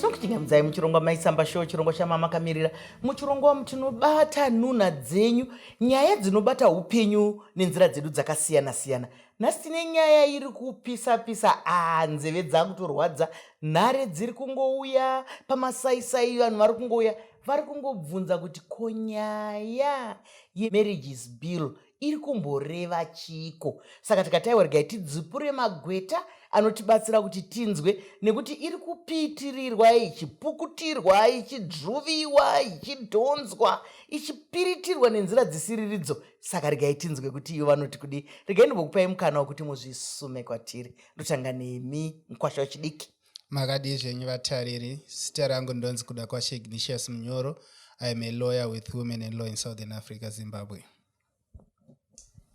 tinokuchingamdzai muchirongwa maisamba show chirongwa chamama kamirira muchirongwa mutinobata nunha dzenyu nyaya dzinobata upenyu nenzira dzedu dzakasiyana siyana nhasi tine nyaya iri kupisa pisa aa nzeve dzakutorwadza nhare dziri kungouya pamasaisai vanhu vari kungouya vari kungobvunza kuti ko nyaya yemarriages bill iri kumboreva chiiko saka tikataiwa regai tidzipure magweta anotibatsira kuti tinzwe nekuti iri kupitirirwa ichipukutirwa ichidruviwa ichidhonzwa ichipiritirwa nenzira dzisiriridzo saka regai tinzwe kuti iyo vanoti kudii regai ndimbokupai mukana wekuti muzvisume kwatiri ndotanga nemi mukwasha wechidiki makadii zvenyu vatariri zita rangu ndonzi kuda kwashe ignitius munyoro iam a lawyer with women and law in southern africa zimbabwe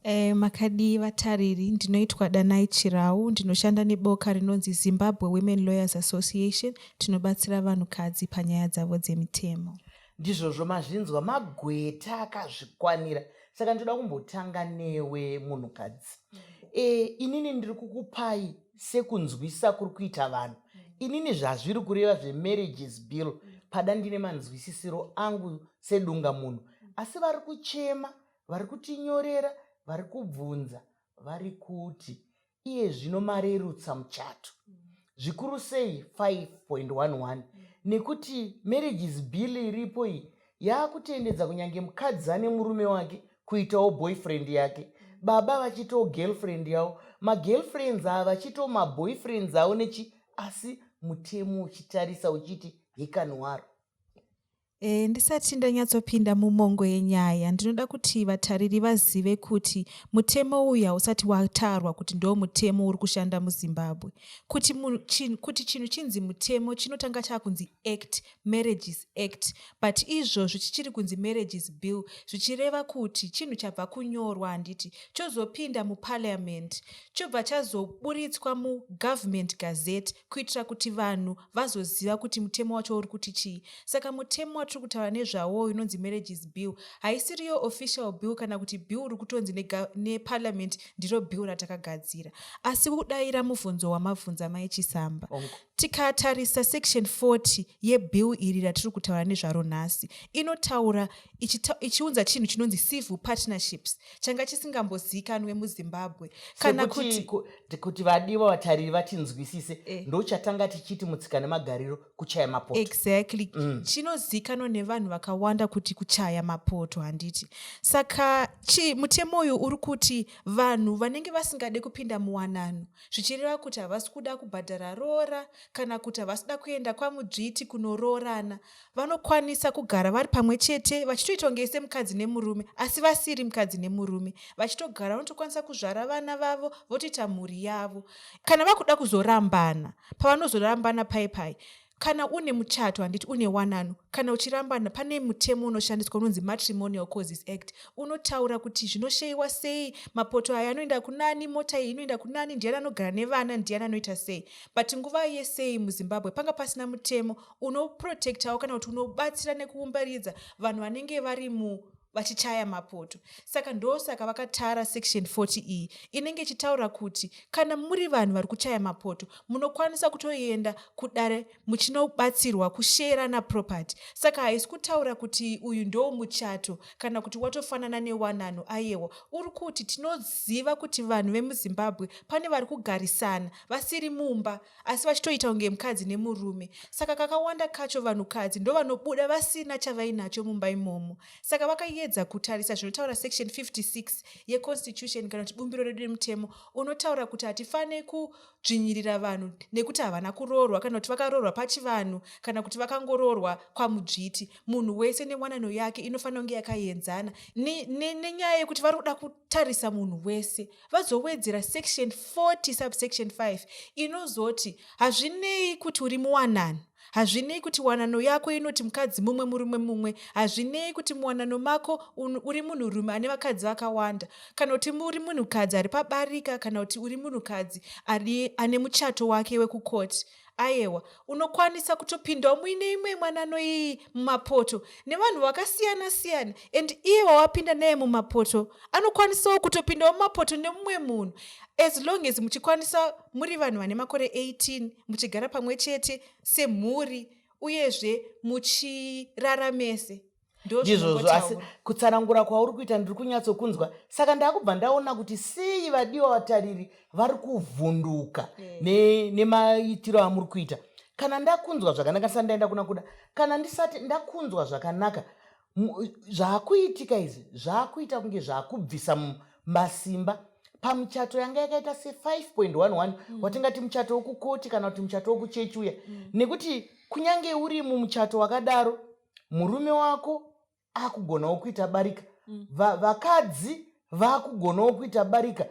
Eh, makadii vatariri ndinoitwa danai chirau ndinoshanda neboka rinonzi zimbabwe women lawyers association tinobatsira vanhukadzi panyaya dzavo dzemitemo ndizvozvo mazvinzwa magweta akazvikwanira saka ndinoda kumbotanga newe munhukadzi e, inini ndiri kukupai sekunzwisa kuri kuita vanhu inini zvazviri kureva zvemarriages bill pada ndine manzwisisiro angu sedunga munhu asi vari kuchema vari kutinyorera vari kubvunza vari kuti iye zvino marerutsa muchato zvikuru sei 5.11 nekuti marriages bill iripo iyi yaakutendedza kunyange mukadzi ane murume wake kuitawo boyfriend yake baba vachitawo girlfriend yavo magirlfriends ava vachitawo maboyfriends avo nechi asi mutemo uchitarisa uchiti hekanwaro E, ndisati ndanyatsopinda mumongo yenyaya ndinoda kuti vatariri vazive kuti mutemo uyu hausati watarwa kuti ndo mutemo uri kushanda muzimbabwe kuti chinhu kuti chinhu chinzi mutemo chinotanga chakunzi act marriages act but izvozvi chichiri kunzi marriages bill zvichireva kuti chinhu chabva kunyorwa handiti chozopinda muparliament chobva chazoburitswa mugovernment gazette kuitira kuti vanhu vazoziva kuti mutemo wacho uri kuti chii saka mutemo watiri kutaura nezvawo uyu unonzi marriages bill haisiriyo official bill kana kuti bill ri kutonzi neparliament ndiro bill ratakagadzira asi kudaira mubvunzo wamabvunza mai chisamba tikatarisa section 40 yebill iri ratiri kutaura nezvaro nhasi inotaura ichiunza chinhu chinonzi civil partnerships changa chisingamboziikanwe muzimbabwe kana kuti kuti vadiwa vatariri vatinzwisise eh. ndochatanga tichiti mutsika nemagariro kuchaya mapoto exactly mm. chinozikanwa nevanhu vakawanda kuti kuchaya mapoto handiti saka chi mutemo uyu uri kuti vanhu vanenge vasingade kupinda muwanano zvichireva kuti havasi kuda kubhadhara roora kana kuti havasi kuda kuenda kwamudzviti kunoroorana vanokwanisa kugara vari pamwe chete vachitoita kunge semukadzi nemurume asi vasiri mukadzi nemurume vachitogara vanotokwanisa kuzvara vana vavo votoita mhuri yavo kana vakuda kuzorambana pavanozorambana pai pai kana une muchato handiti une wanano kana uchirambana pane mutemo unoshandiswa unonzi matrimonial causes act unotaura kuti zvinosheyiwa sei mapoto aya anoenda kunani mota iyi inoenda kunani ndiyani anogara nevana ndiyani anoita sei but nguva yesei muzimbabwe panga pasina mutemo unoprotectawo kana kuti unobatsira nekuumbaridza vanhu vanenge vari mu vachichaya mapoto saka ndosaka vakatara section 40 iyi inenge ichitaura kuti kana muri vanhu vari kuchaya mapoto munokwanisa kutoenda kudare muchinobatsirwa kusheerana property saka haisi kutaura kuti uyu ndo muchato kana kuti watofanana newanano ayewa uri kuti tinoziva kuti vanhu vemuzimbabwe pane vari kugarisana vasiri mumba asi vachitoita kunge mukadzi nemurume saka kakawanda kacho vanhukadzi ndovanobuda vasina chavainacho mumba imomo saka vakayedza kutarisa zvinotaura section 56 yeconstitution kana kuti bumbiro redu nemutemo unotaura kuti hatifaniri kudzvinyirira vanhu nekuti havana kuroorwa kana kuti vakaroorwa pachivanhu kana kuti vakangoroorwa kwamudzviti munhu wese newanano yake inofanira kunge yakaenzana nenyaya ne, ne yekuti vari kuda kutarisa munhu wese vazowedzera section 40 subsection 5 inozoti hazvinei kuti uri muwanano hazvinei kuti wanano yako inoti mukadzi mumwe murume mumwe hazvinei kuti muwanano mako uri munhurume ane vakadzi vakawanda kana kuti uri munhukadzi ari pabarika kana kuti uri munhukadzi ane muchato wake wekukoti Ayewa, unokwanisa kutopindawo muine imwe mwanano iyi mumapoto nevanhu vakasiyana siyana and iye wawapinda naye mumapoto anokwanisawo kutopindawo mumapoto nemumwe munhu as long as muchikwanisa muri vanhu vane makore 18 muchigara pamwe chete semhuri uyezve muchirara mese. ndizvozvo asi kutsanangura kwauri kuita ndiri kunyatsokunzwa saka ndakubva ndaona kuti sei vadiwa vatariri vari kuvhunduka eh. nemaitiro amuri kuita kana ndakunzwa zvakanaka ndisati ndaenda kuna kuda kana ndisati ndakunzwa zvakanaka zvaakuitika izvi zvaakuita kunge zvaakubvisa masimba pamuchato yanga yakaita se5.11 mm. watingati muchato wokukoti kana kuti muchato wokuchechi uya mm. nekuti kunyange uri mumuchato wakadaro murume wako akugonawo kuita barika mm. vakadzi vakugonawo kuita barika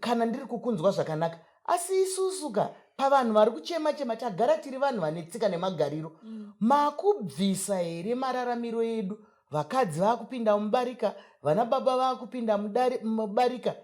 kana ndiri kukunzwa zvakanaka asi isusu ka pavanhu vari kuchema chema tagara tiri vanhu vane tsika nemagariro mm. makubvisa here mararamiro edu vakadzi vakupinda mubarika vana baba vakupinda mubarika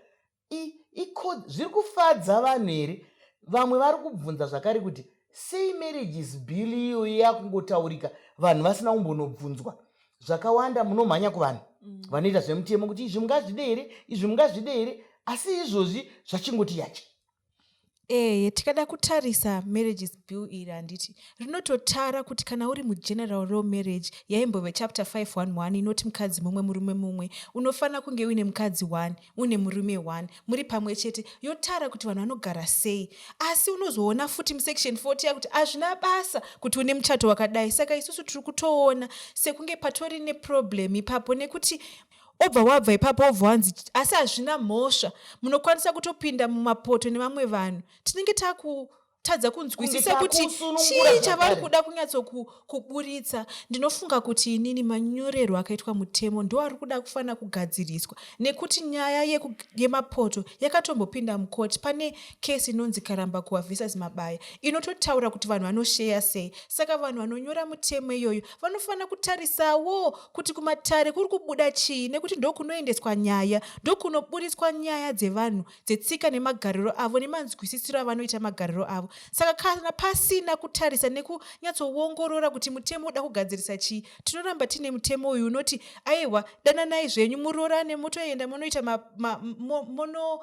I, iko zviri kufadza vanhu here vamwe vari kubvunza zvakare kuti sei marriages bill iyo yakungotaurika vanhu vasina kumbonobvunzwa zvakawanda munomhanya kuvanhu mm. vanoita zvemutemo kuti izvi mungazvide here izvi mungazvide here asi izvozvi zvachingoti yache eye tikada kutarisa marriages bill iri handiti rinototara kuti kana uri mugeneral law marriage yaimbove chapter 511 inoti mukadzi mumwe murume mumwe unofanira kunge uine mukadzi one une murume one muri pamwe chete yotara kuti vanhu vanogara sei asi unozoona futi musection 40 yakuti hazvina basa kuti une muchato wakadai saka isusu tiri kutoona sekunge patori neproblem ipapo nekuti obva wabva ipapo wobva wanzi asi hazvina mhosva munokwanisa kutopinda mumapoto nevamwe vanhu tinenge takutadza kunzwisisa kuti chii chavari kuda kunyatsokuburitsa ndinofunga kuti inini manyorerwo akaitwa mutemo ndoari kuda kufanira kugadziriswa nekuti nyaya yemapoto yakatombopinda mukoti pane kesi inonzi karamba kuwa visas mabaya inototaura kuti vanhu vanosheya sei saka vanhu vanonyora mutemo iyoyo vanofanira kutarisawo kuti kumatare kuri kubuda chii nekuti ndokunoendeswa nyaya ndokunoburitswa nyaya dzevanhu dzetsika nemagariro avo nemanzwisisiro avanoita magariro avo saka kana pasina kutarisa nekunyatsoongorora kuti mutemo uda kugadzirisa chii tinoramba tiine mutemo uyu unoti aiwa dananai zvenyu muroorane motoenda monoita monochata ma, ma, mono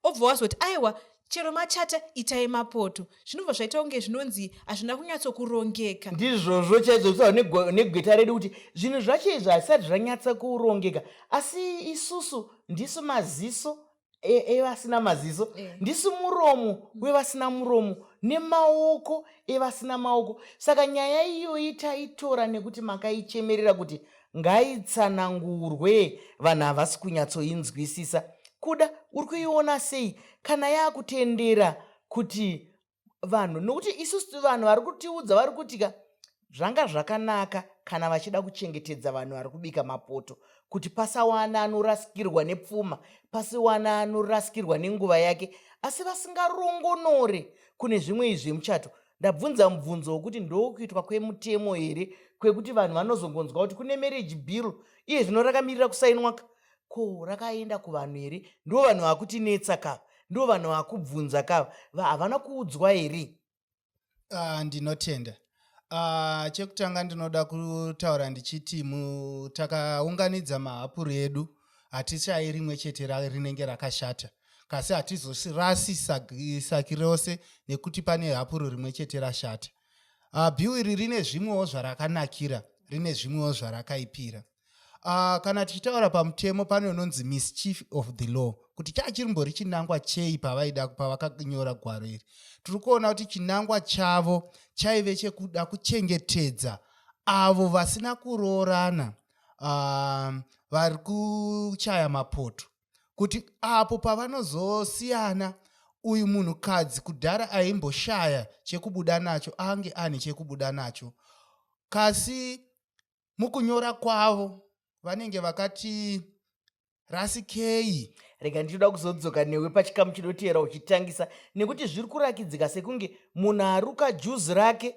obva wazoti aiwa chero machata itai mapoto zvinobva zvaita kunge zvinonzi hazvina kunyatsokurongeka ndizvozvo chaizvo kutaura negweta redu kuti zvinhu zvacho izvo hazvisati zvanyatsa kurongeka asi isusu ndisu maziso e, evasina e, maziso eh. ndisu muromo wevasina muromo nemaoko evasina maoko saka nyaya iyoyi taitora nekuti makaichemerera kuti ngaitsanangurwe vanhu havasi kunyatsoinzwisisa kuda uri kuiona sei kana yaakutendera kuti vanhu nokuti isusu vanhu vari kutiudza vari kuti ka zvanga zvakanaka kana vachida kuchengetedza vanhu vari kubika mapoto kuti pasawana anorasikirwa nepfuma pasiwana anorasikirwa nenguva yake asi vasingarongonore kune zvimwe izvi zvemuchato ndabvunza mubvunzo wokuti ndokuitwa kwemutemo here kwekuti vanhu vanozongonzwa kuti kune marriage bill iye zvino rakamirira kusainwa ka ko rakaenda kuvanhu here ndo vanhu vakutinetsa ka ndo vanhu vakubvunza ka havana kuudzwa here ah, ndinotenda ah, chekutanga ndinoda kutaura ndichiti takaunganidza mahapuri edu hatishayi rimwe chete rinenge rakashata kasi hatizosirasi saki rose nekuti pane hapuro rimwe chete rashata uh, ah, biu iri rine zvimwewo zvarakanakira rine zvimwewo zvarakaipira uh, kana tichitaura pamutemo pane unonzi mischief of the law kuti chaa chirimbori chinangwa chei pavaida pavakanyora gwaro iri tiri kuona kuti chinangwa chavo chaive chekuda kuchengetedza avo vasina kuroorana uh, vari kuchaya mapoto kuti apo pavanozosiyana uyu munhukadzi kudhara aimboshaya chekubuda nacho ange ane chekubuda nacho kasi mukunyora kwavo vanenge vakati rasikei rega ndichida kuzodzoka newe pachikamu chinoteera uchitangisa nekuti zviri kurakidzika sekunge munhu aruka juzi rake